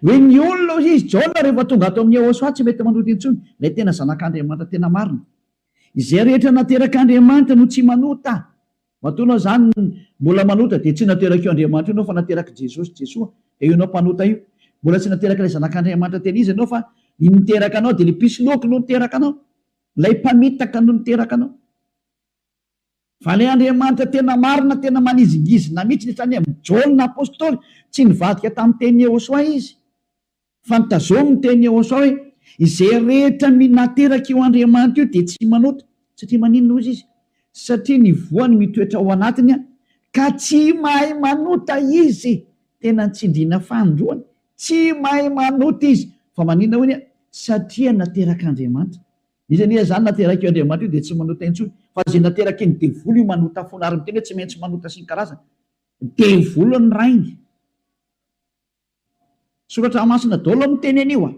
Hoe ny olona hoy izy, Jaona rehefa tonga ato amin'i Yehosua tsy mety manohitra intsony, ilay tena Zanak'Andriamanitra tena marina. Izay rehetra naterak'Andriamanitra no tsy manota. Matoanao izany mbola manota dia tsy naterak'io Andriamanitra io ianao fa naterak'i Jesosy, Jesoa, dia io ianao mpanota io. Mbola tsy naterak'ilay Zanak'Andriamanitra tena izy ianao fa ny niteraka anao dia ilay mpisoloky no niteraka anao. Ilay mpamitaka no niteraka anao. Vale Andriamanitra tena marina tena manizingizina mitsiny izany am Jaona apostoly tsy nivadika tam teny Iehosoa izy fa nitazomy ny teny Iehosoa hoe izay rehetra minateraka io Andriamanitra io dia tsy manota satria maninona hozy izy satria ny voany mitoetra ao anatiny an ka tsy mahay manota izy tena ny tsindrina fanindroany tsy mahay manota izy fa maninona hoy ny satria naterak Andriamanitra Izy anie izany naterak'io Andriamanitra io dia tsy manota intsony fa izay naterakin'ny devoly io manota foana ary miteny hoe tsy maintsy manota sy ny karazany. Devoly ny rainy. Soratra masina daholo miteny an'io a.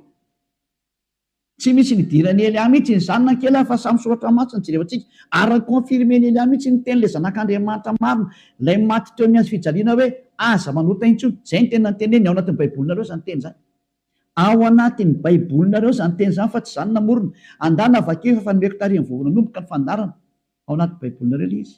Tsy misy nidiran'i Elia mihitsy ny zanany kely a fa samy soratra masina jerevantsika ary ni-confirmen'i Elia mihitsy ny tenin'ilay zanak'Andriamanitra marina ilay maty teo amin'ny hazo fijaliana hoe aza manota intsony. Izay ny teny nanteneniny ao anatin'ny baibolinareo izany teny izany. Ao anatin'ny Baibolinareo izany teny izany fa tsy izaho no namorona. Andana vakio efa efa nomeko tarehy ny vao nanomboka ny fandaharana. Ao anaty Baibolinareo ilay izy.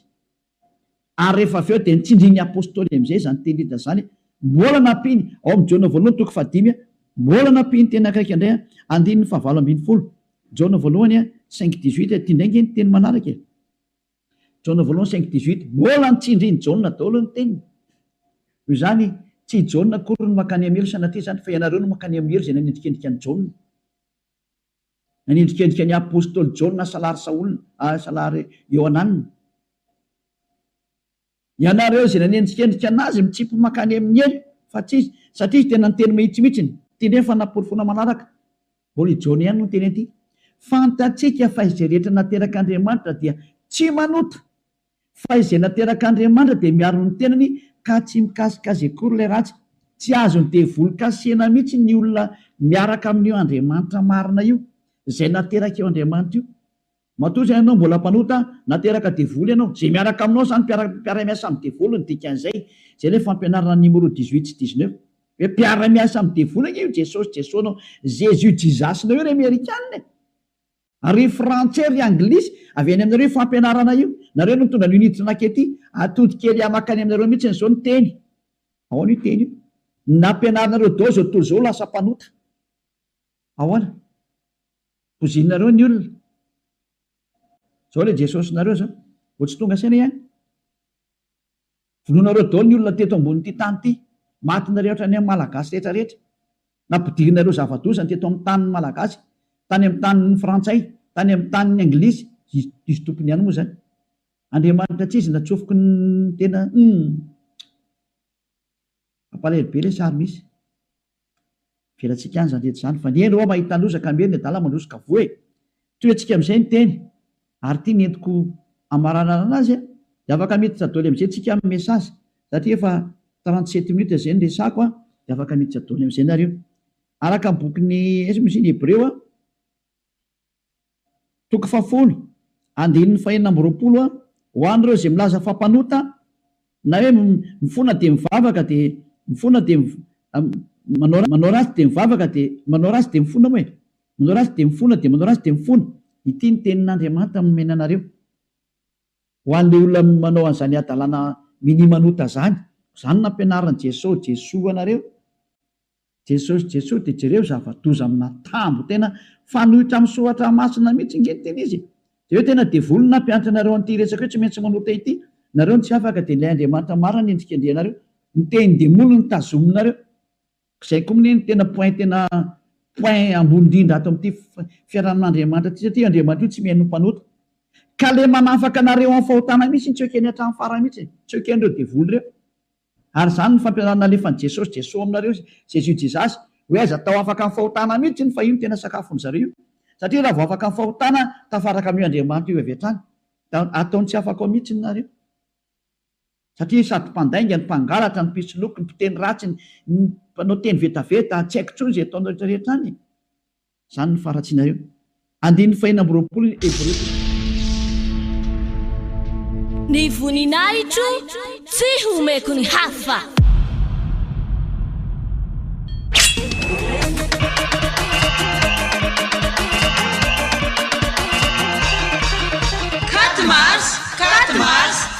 Ary rehefa avy eo dia nitsindrin'ny Apostoly amin'izay izany teny Lida izany. Mbola nampiany, ao amin'ny Jaona voalohany toko fahadimy, mbola nampiany teny akaiky indray, andininy fahavalo ambin'ny folo, Jaona voalohany cinq dix-huit, ity indray ange ny teny manaraka e. Jaona voalohany cinq dix huit, Mbola ny tsindrin'i Jaona daholo ny teniny. Noho izany, tsy i Jaona akory no mankany amin'ny helo sanatria izany, fa ianareo no mankany amin'ny helo izay nanendrikendrika an'i Jaona. Nanendrikendrika ny apostoly Jaona hasalary Saola, hasalary Iohanana. Ianareo izay nanendrikendrika an'azy mitsipy mankany amin'ny helo fa tsy izy satria izy tena niteny mahitsy mihitsy ny. Ity indray ny fanaporofoana manaraka, Holy John ihany no niteny an'ity, Fantatsika fa izay rehetra naterak'Andriamanitra dia tsy manota, fa izay naterak'Andriamanitra dia miaro ny tenany ka tsy mikasika azy akory ilay ratsy. Tsy azon'ny devoly kasihina mihitsy ny olona miaraka amin'io Andriamanitra marina io, izay naterak'io Andriamanitra io. Matoa izay ianao mbola mpanota, na teraka devoly ianao, izay miaraka aminao izany mpiara mpiara-miasa amin'ny devoly ny dikan'izay, izay ilay fampianarana ny Nimoro dix huit sy dix neuf. Hoe mpiara-miasa amin'ny devoly ange io Jesosy Jeso nao Jésus Jesus nao io ry Amerikana e! Ary ry Frantsay ry Anglisy, avy any aminareo io fampianarana io, nareo no nitondra an'io niditra nankety, atody kely ahy makany aminareo mihitsy izao ny teny, ahoana io teny io? ny nampianarinareo dao izao tontolo izao lasa mpanota, ahoana? Pozinareo ny olona. Zao le Jesosinareo zao. Vao tsy tonga saina ihany. Vonoinareo daholo ny olona teto ambonin'ity tany ity. Maty nareo hatrany amin'ny Malagasy rehetra rehetra. Nampidirinareo zava-doza ny teto amin'ny tanin'ny Malagasy. Tany amin'ny tanin'ny Frantsay. Tany amin'ny tanin'ny Anglisy. Diso tompony ihany moa zany. Andriamanitra tsy izy natsofoky ny tena humm. Mampalahelo be le sary misy. Avelantsika any izany rehetra izany fa ny eny oa mahita loza ka miely ny adala mandroso ka voa e! Tohetsika amin'izay ny teny ary ity nentiko hamaranarana azy a! Dia afaka miditra doly amin'izay tsika amin'ny message satria efa trente sept minutes izay no resako a! Dia afaka miditra doly amin'izay nareo. Araka ny bokin'i Hebreo a! Toko fahafolo, andininy fahenina amby roapolo, Ho an'ireo izay milaza fa mpanota, na hoe mifona dia mivavaka dia mifona dia manao ratsy dia mivavaka dia manao ratsy dia mifona moa e! manao ratsy dia mifona dia manao ratsy dia mifona, ity ny tenin'Andriamanitra nomena anareo, ho an'ilay olona manao an'izany hadalana minia manota izany, koa izany nampianarin'i Jeso, Jesoa anareo. Jesosy Jesosy de jereo zavadoza amina tambo tena fanoitra am soratra masina mitsy nge ny tena izy e! de eo tena devoly no nampianatra anareo anty resaka io tsy maintsy manota ity nareo no tsy afaka de ilay Andriamanitra marina no endrikendrehanareo ny tenindemoly no tazominareo zay ko mne no tena point tena point ambony indrindra ato amty fiarahamin Andriamanitra ty satria io Andriamanitra io tsy mihaino ny mpanota ka le manafaka anareo am fahotana mitsy tsy ekeny atram farany mitsy e! tsy ekenreo devoly reo. Ary izany no fampianarana nalefan'i Jesosy Jeso aminareo izy Jésus Jesus hoe aiza tao afaka ny fahotana mihitsy iny fa io no tena sakafony zareo io satria raha vao afaka ny fahotana tafaraka amin'io Andriamanitra io avy hatrany da ataony tsy afaka ao mihitsy ny nareo satria sady mpandainga ny mpangalatra ny mpisoloky ny mpiteny ratsy ny mpanao teny vetaveta tsy haiko intsony izay ataonareo rehetra rehetra any e. Izany no faharatsianareo. Andininy fahenina amby roapolo ny Hebreo. Ny voninahitro tsy homeko ny hafa.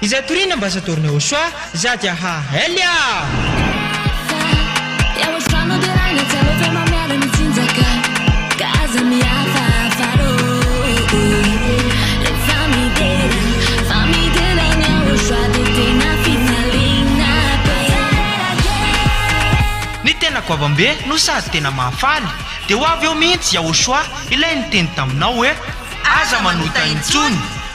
Izay toriana ambasadaoron'i Yahoshua, za dia ha Elia! Ny tena goavambe no sady tena mahafaly, dia ho avy eo mihitsy Yahoshua ilay niteny taminao hoe, Aza manota intsony!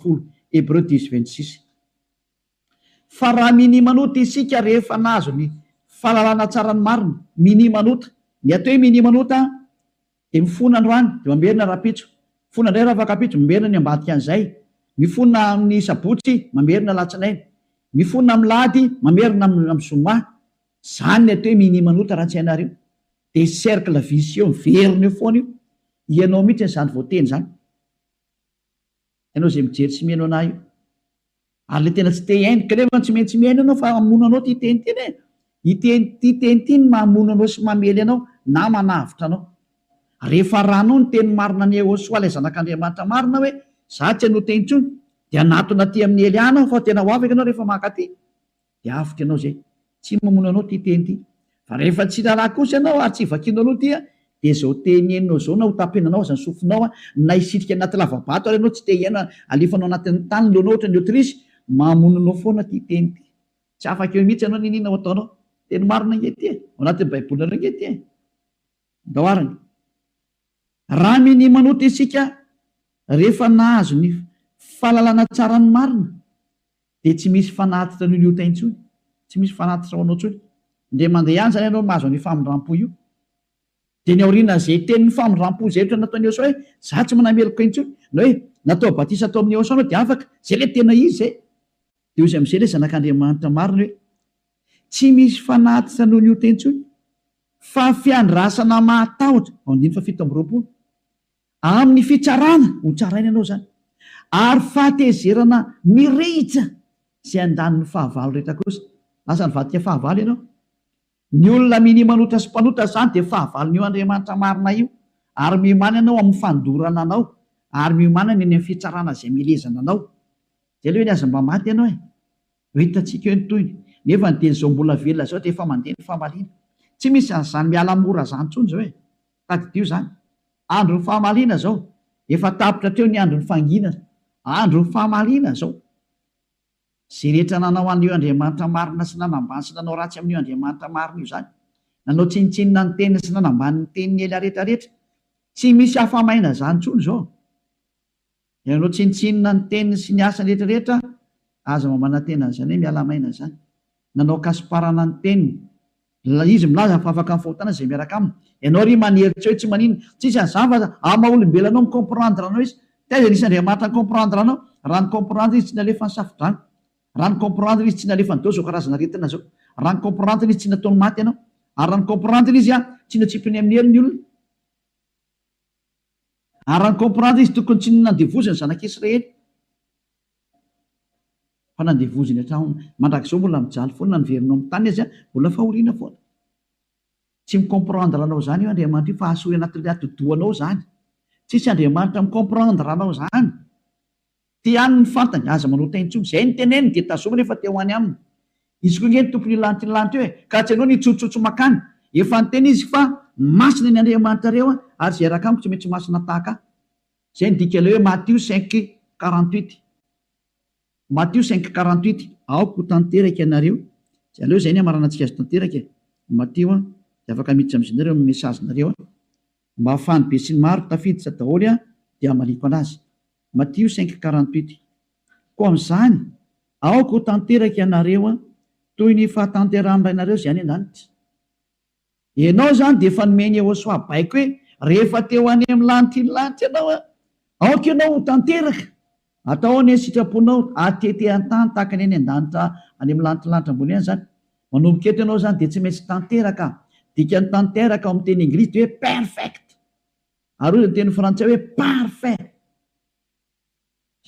folo, Hébreux dix vingt six. Fa raha minimanota isika rehefa nahazo ny fahalalana tsara ny marina, minimanota, ny atao hoe minimanota dia mifona androany dia mamerina rahampitso, mifona indray rafakapitso, mamerina ny ambadikan'izay, mifona amin'ny sabotsy, mamerina alatsinainy, mifona amin'ny lahady, mamerina amin'ny zoma, izany ny atao hoe minimanota raha tsy hainareo, Dia cercle vicieux miverina eo foana io. Ianao mihitsy izany voateny izany. Ianao izay mijery sy mihaino anah io. Ary ilay tena tsy te hihaino, kanefa tsy maintsy mihaino ianao fa hamono anao ity teny ity e. Ity teny ity no mahamono anao sy mamely anao na manavotra anao. Rehefa arahanao ny teny marina an'i Yehosoa ilay Zanak'Andriamanitra marina hoe, Izaho tsy hanota intsony, dia hanatona aty amin'ny heliahina aho fa tena ho avy ianao rehefa mankaty. dia avotra ianao izay. Tsy mamono anao ity teny ity. Fa rehefa tsy raharaha kosa ianao ary tsy vakianao aloha ity dia izao teny henonao izao na hotapenanao aza ny sofinao na hisitrika anaty lava-bato ary ianao tsy te hihaino alefanao anatin'ny tany ny lohanao ohatra ny otrisy, mamono anao foana ity teny ity. Tsy afaka eo mihitsy ianao n'inona ho ataonao. Teny marina ange ity e! Ao anatin'ny baibolinareo ange ity e! Andao arany. Raha minia manota isika rehefa nahazo ny fahalalana tsara ny marina, Dia tsy misy fanatitra an'io liota intsony, tsy misy fanatitra ho anao intsony. Indray mandeha ihany izany ianao no mahazo an'io famindram-po io. Dia ny aorianan'izay tenin'ny famindram-po izay ohatra ny nataon'i Eosa hoe, Izaho tsy manana meloka intsony, na hoe, Natao batisa tao amin'i Eosa anao dia afaka. Izay ilay tena izy izay. Dia hoy amin'izay ilay Zanak'Andriamanitra marina hoe, Tsy misy fanatitra noho liota intsony, fa fiandrasana mahatahotra. Andininy fahafito amby roapolo. Amin'ny fitsarana ho tsaraina ianao izany, ary fahatezerana mirehitra izay andaniny fahavalo rehetra kosa. Lasa nivadika fahavalo ianao. Ny olona minia manota sy mpanota izany dia fahavalon'io Andriamanitra marina io, ary miomana ianao amin'ny fandorana anao, ary miomana ny any amin'ny fitsarana izay milezana anao. Dia aleo anie aza mba maty ianao e! Ho hitantsika eo ny tohiny. Nefa ny teny izao mbola velona izao dia efa mandeha ny famaliana. Tsy misy an'izany miala mora izany intsony izao e! Tadidio izany. Andron'ny famaliana izao. Efa tapitra hatreo ny andron'ny fanginana. Andron'ny famaliana izao. Izay rehetra nanao an'io Andriamanitra marina sy nanambany sy nanao ratsy amin'io Andriamanitra marina io izany. Nanao tsinontsinona ny teniny sy nanambany ny teniny ela rehetra rehetra. Tsy misy afa-maina izany intsony izao. Ianao tsinontsinona ny teniny sy ny asany rehetra rehetra aza mba manantena an'izany hoe miala maina izany. Nanao kasiparana ny teniny. Ilay izy milaza fa afaka mifahotana izay miaraka aminy. Ianao ry manery tsy eo tsy maninona. Tsisy an'izany fa amin'ny maha olombelona anao mi comprendre anao izy. Taiza nisy Andriamanitra ni comprendre anao. Raha ni comprendre izy tsy nalefa ny safodrano. Raha ni comprendre izy tsy nalefa an'dao izao karazana aretina izao. Raha ni comprendre izy tsy nataony maty ianao. Ary raha ni comprendre izy tsy notsipiny amin'ny hery ny olona. Ary raha ny comprendre izy tokony tsy nandevoziny zanak'i Israely fa nandevoziny hatramin, mandrakizao mbola mijaly foana na niverina ao amin'ny tany aza mbola fahoriana foana. Tsy mi comprendre anao izany io Andriamanitra io fa hahasoa eo anatin'ilay atidohanao izany. Tsisy Andriamanitra mi comprendre anao izany. Te haniny ny fantany, aza manota intsony. Izay no teneniny dia tazomina efa te ho any aminy. Izy koa nge no tompon'io lantilanty io e! Ka tsy anao ny hitsotsotso makany. Efa niteny izy fa masina ny Andriamanitrareo a! ary izay raka amiko tsy maintsy masina tahaka ahy. Izay no dika ilay hoe Matio cinq quarante huit. Matio cinq quarante huit. Aoka ho tanteraka ianareo, dia aleo izay ny hamaranantsika azy tanteraka e! Matio a! dia afaka miditra amin'izy nareo amin'ny message nareo a! Mba ahafahan'ny besinimaro tafiditra daholo a! dia hamaliako anazy. Matio cinq quarante huit Koa amin'izany, aoka ho tanteraka ianareo toy ny fahatanterahan'ny Rainareo izay any an-danitra. Ianao izany dia efa nomeny Yehosua baiko hoe, Rehefa te-ho any amin'ny lanitr'iny lanitra ianao, aoka ianao ho tanteraka. Atao ahoana ny sitraponao hatete an-tany tahaka ny any an-danitra, any amin'ny lanitr'ny lanitra ambony any izany? Manomboka eto ianao izany dia tsy maintsy tanteraka. Dikan'ny tanteraka ao amin'ny teny englisy dia hoe perfect. Ary hoy ny teny frantsay hoe parfait.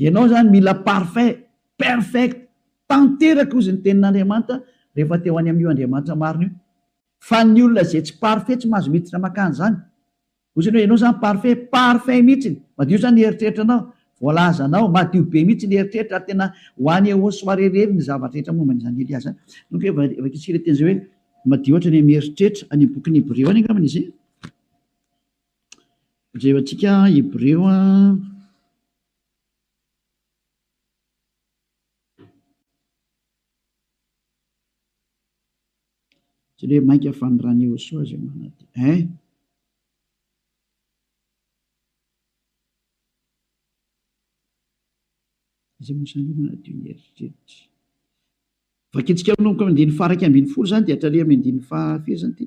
Ianao izany mila parfait, perfect, tanteraka hozy ny tenin'Andriamanitra rehefa te ho any amin'io Andriamanitra marina io. Fa ny olona izay tsy parfait tsy mahazo miditra makany izany. Hoy izany hoe ianao izany parfait, parfait mihitsy, madio izany ny eritreritranao, voalazanao, madio be mihitsy ny eritreritra ary tena ho any au soirée irery ny zavatra rehetra momba an'i Zandelia izany. Nony koa efa vakintsika ilay teny izay hoe madio ohatra ny amin'ny eritreritra, any amin'ny bokin'ny Hebreo any angambany izay. Jereo antsika Hebreo Jereo mainka fa ny ran'i Iehosoa izay manantena eh. Izay mosan'ny manadio ny eritreritra. Vakintsika manomboka amin'ny andininy faha iraika ambin'ny folo izany dia hatraria amin'ny andininy faha firy izany ity?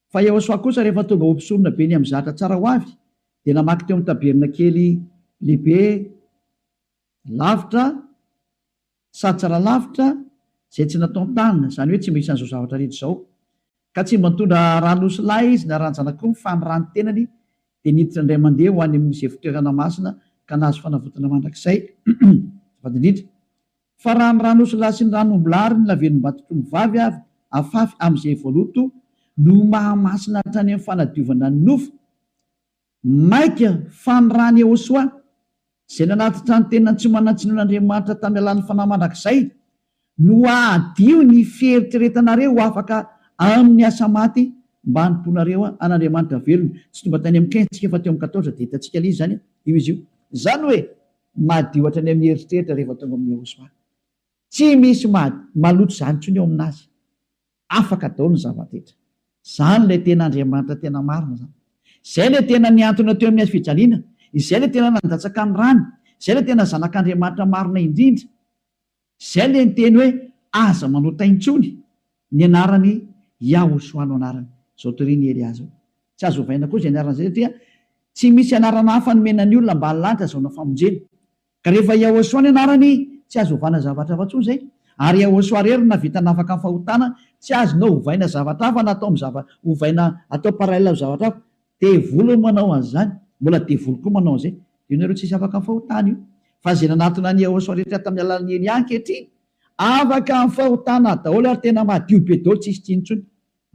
Fa Iehosoa kosa rehefa tonga ho mpisonona be niha-mizatra tsara ho avy, dia namaky teo amin'ny tabernakely lehibe lavitra sady tsara lavitra izay tsy natontanina, izany hoe tsy mba isan'izao zavatra rehetra izao. Ka tsy mba nitondra rà-nosy lahy izy na ràn-janak'omby, fa ny ràny tenany dia niditra indray mandeha ho any amin'izay fitoerana masina ka nahazo fanavotana mandrakizay. Azafady indrindra. Fa raha ny ran'osilahy sy ny ran'ombilahy ary ny lavelombatotr'ombivavy avy afafy amin'izay voaloto no mahamasina hatrany amin'ny fanadiovana ny nofo, maika fa ny ran'i Ehosoa, izay nanatitra ny tenany tsy manan-tsiny ho an'Andriamanitra tamin'ny alalan'ny fanahy mandrakizay, no hahadio ny fieritreretanareo ho afaka amin'ny asa maty mba hanompoanareo an'Andriamanitra velona. Tsy tonga tany amin'ny quinze tsika fa teo amin'ny quatorze dia hitantsika ilay izy izany io izy io. Izany hoe. Madio hatrany amin'ny eritreritra rehefa tonga amin'i Yehosua. Tsy misy maha maloto izany intsony eo amin'azy. Afaka daholo ny zava-drehetra. Izany ilay tena Andriamanitra tena marina izany. Izay ilay tena nihantona teo amin'ny hazofijaliana. Izay ilay tena nandatsaka ny rany. Izay ilay tena Zanak'Andriamanitra marina indrindra. Izay le niteny hoe aza manota intsony ny anarany Yahoshua no anarany. Zao toria ny Elia zao. Tsy azo ovaina koa izay anarana izay satria tsy misy anarana hafa nomena ny olona mba halany ka azahoana famonjena. Ka rehefa Yahoshua ny anarany tsy azo ovana zavatra hafa intsony izay. Ary Yahoshua rery no nahavita nafaka ny fahotana, tsy azonao ovaina zavatra hafa na atao amin'ny zava ovaina atao parallel amin'ny zavatra hafa. Devoly no manao an'izany, mbola devoly koa manao an'izay. Dia ianareo tsisy afaka fahotana io. Fa izay nanatona an'i Yehosua rehetra tamin'ny alalan'i Elia ankehitriny, afaka amin'ny fahotana daholo ary tena madio be daholo, tsisy tsy intsony.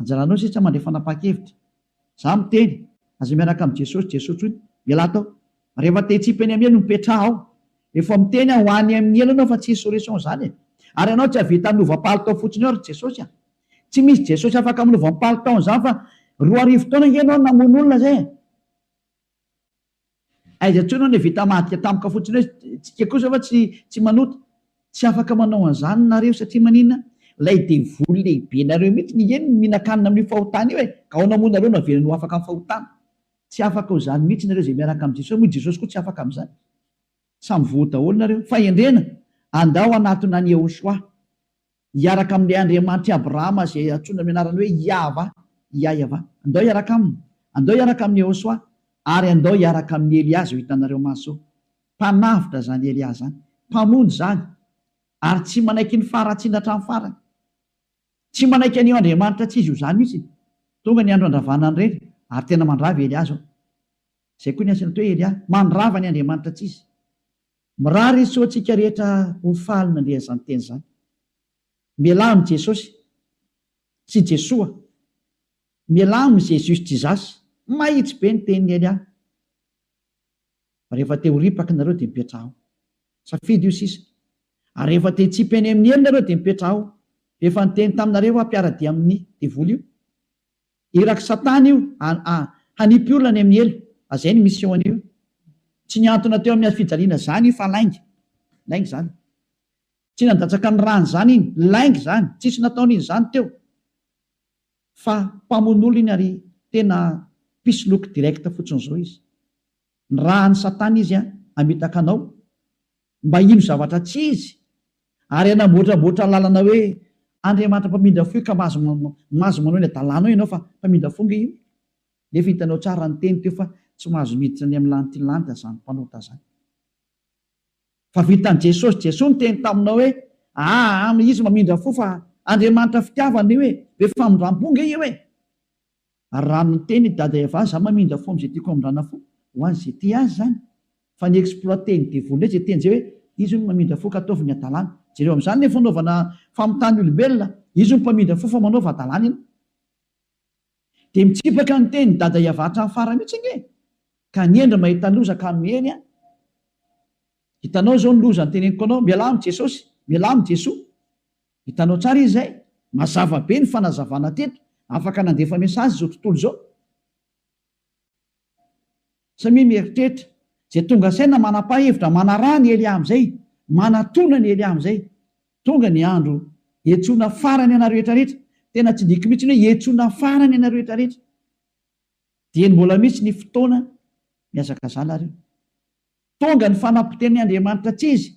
Anjaranao sisa mandray fanapahan-kevitra. Izaho miteny, aza miaraka amin'i Jesosy, Jesoa intsony. Ialahy tao. Rehefa tetsy Ipeniamia no mipetraha aho. Efa miteny aho ho any amin'ny helo ianao fa tsy insurrection izany e. Ary ianao tsy hahavita hanova palitao fotsiny eo ry Jesosy a. Tsy misy Jesosy afaka amin'ny voampalo taona izany fa roa arivo taona ange ianao no namono olona izay e! Aiza intsony aho no vita madika tampoka fotsiny hoe tsika kosa va tsy tsy manota? Tsy afaka manao an'izany nareo satria maninona? Ilay devoly lehibenareo mihitsy nge no mihinan-kanina amin'io fahotana io e! Ka ahoana moa nareo no havelany ho afaka amin'ny fahotana? Tsy afaka ho izany mihitsy nareo izay miaraka amin'i Jesosy, moa i Jesosy koa tsy afaka amin'izany? Samy voa daholo nareo. Fahendrena, andao hanatona an'i Yehoshuah. Hiaraka amin'ilay Andriamanitr'i Abrahama izay antsoina amin'ny anarany hoe Iahva, Iaiava. Andao hiaraka aminy. Andao hiaraka amin'i Iehosoa. Ary andao hiaraka amin'i Elià izay ho hitanareo maso. Mpanavotra izany Elià izany. Mpamonjy izany. Ary tsy manaiky ny faharatsiana hatramin'ny farany. Tsy manaiky an'io Andriamanitra tsy izy ho zany mihitsy. Tonga ny andro handravana ny reny, ary tena mandrava i Elià izao. Izay koa ny asan'ito hoe Elià. Mandrava ny Andriamanitra tsy izy. Mirary hitsoa antsika rehetra ho faly nandre an'izany teny izany. Mialà amin'i Jesosy, tsy Jesoa. Mialà amin'i Jésus Jesus. Mahitsy be ny tenin'i Elia. Rehefa te ho ripaka nareo dia mipetraha ao. Safidy io sisa. Ary rehefa te hitsipy eny amin'ny elo nareo dia mipetraha ao. Efa niteny taminareo aho mpiara-dia amin'ny devoly io. Irak satana io a hanipy olona any amin'ny helo a zay ny mission an'io tsy niantona teo amin'ny hafijaliana zany io fa lainga lainga zany tsy nandatsaka ny rany zany iny lainga zany tsisy nataony iny zany teo fa mpamon'olo iny ary tena mpisoloky direct fotsiny zao izy ny raha any satana izy a hamitaka anao mba hino zavatra tsy izy, ary hanamboatramboatra lalana hoe Andriamanitra mpamindra fo io ka mahazo mahazo manao ny adalanao ianao fa mpamindra fo nge io nefa hitanao tsara ny teny teo fa tsy mahazo miditra any amin'ny lanitry ny lanitra zany mpanota zany fa vitan'i Jesosy Jesoa niteny taminao hoe aa izy mamindra fo fa Andriamanitra fitiavana io e be famindram-po nge io e Ary raha miteny i Dada Eva za mamindra fo amzay tiako hamindrana fo ho azy ze tia azy zany fa ny exploiter ny devoly ndray ze teny zay hoe izy hono mamindra fo ka ataovy ny adalana jereo amzany le fanaovana famitany olombelona izy hono mpamindra fo fa manaova adalana ianao de mitsipaka ny teny Dada Eva hatrany farany mitsy ange ka ny hendry mahita ny loza ka miely an hitanao zao ny loza ny teneniko anao mialà am jesosy mialà am jesoa Hitanao tsara izy izay? Mazava be ny fanazavana teto. Afaka nandefa message izao tontolo izao. Samia mieritreritra. Izay tonga saina manapa hevitra, manaraha ny Elia amin'izay, manatona ny Elia amin'izay. Tonga ny andro hiantsoana farany anareo rehetra rehetra. Tena tsy diko mihitsy ny hoe hiantsoana farany anareo rehetra rehetra. Dieny mbola misy ny fotoana mihazakazana ary io. Tonga ny fanapoteni Andriamanitra tsy izy,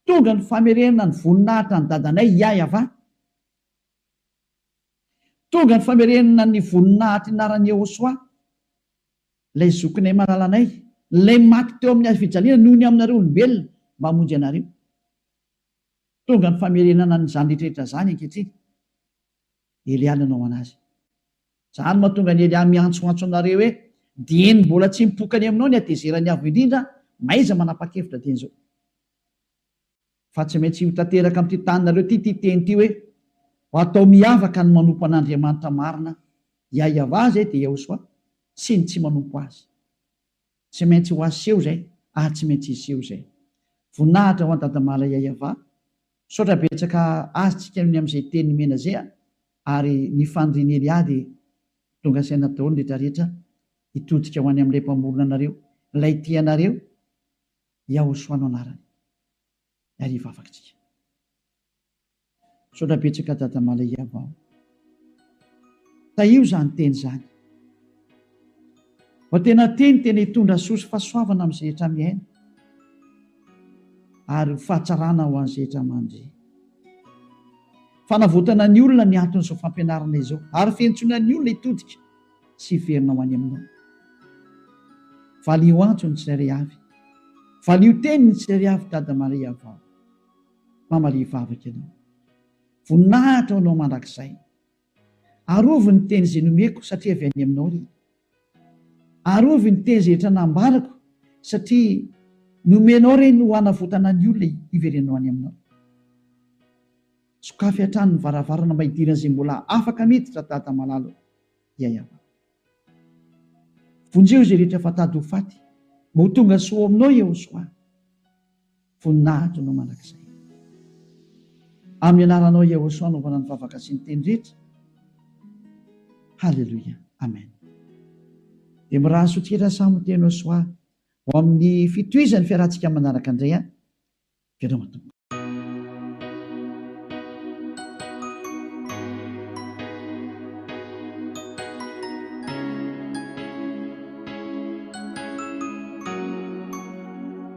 tonga ny famerena ny voninahitra an'i Dadanay Iaiavà, tonga ny famerena ny voninahitry ny anaran'i Iehosoa, ilay zokinay malalanay, ilay maty teo amin'ny hazo fijaliana noho ny aminareo olombelona mba hamonjy anareo. Tonga ny famerenana an'izany rehetra rehetra izany ankehitriny. Elia nanao an'azy. Zany no mahatonga an'i Elia miantsoantso anareo hoe, Dieny mbola tsy mipoka any aminao ny hatezeran'ny Avo Indrindra, mahaiza manapa-kevitra dieny izao. Fa tsy maintsy ho tanteraka amin'ity taninareo ity ity teny ity hoe, Ho atao miavaka ny manompo an'Andriamanitra marina, Iahiavah izay dia Iahoswah, sy ny tsy manompo azy. Tsy maintsy ho aseho izay ary tsy maintsy hiseho izay. Voninahitra ho an Dadamala Yayava. Misaotra betsaka azy tsika ny amin'izay teny nomena izay a! ary ny fanirian'i Elia dia tonga saina daholo ny rehetra rehetra hitodika ho any amin'ilay mpamorona anareo, ilay tia anareo, Yahoshua no anarany. Ary hivavaka tsika. Misaotra betsaka Dada Malaiava o. Tahio izany teny izany. Fa tena teny tena hitondra soa sy fahasoavana amin'ny izay rehetra miaina ary ho fahatsarana ho an'izay rehetra mandre. Fanavotana ny olona ny anton'izao fampianarana izao ary fiantsoana ny olona hitodika sy hiverina ho any aminao. Valio antso ny tsirairay avy. Valio teny ny tsirairay avy Dada Malaiava o. Mamalia vavaka ianao. Voninahitra ho anao mandrakizay. Arovy ny teny izay nomeko satria avy any aminao ry. Arovy ny teny izay efa nambarako satria nomenao ireny ho hanavotana ny olona hiverenanao any aminao. Sokafy hatrany ny varavarana mba hidiran'izay mbola afaka miditra Dada malala o. Yayava. Vonjeo izay rehetra efa tady ho faty mba ho tonga soa ao aminao Yehosoa. Voninahitro Anao mandrakizay. Amin'ny anaranao Yahosua anaovana ny vavaka sy ny teny rehetra. Haleloia. Amen. Dia miraha sotkera samy teny Yahosua ho amin'ny fitohizan'ny fiarahantsika manaraka indray an. Veloma Tompo.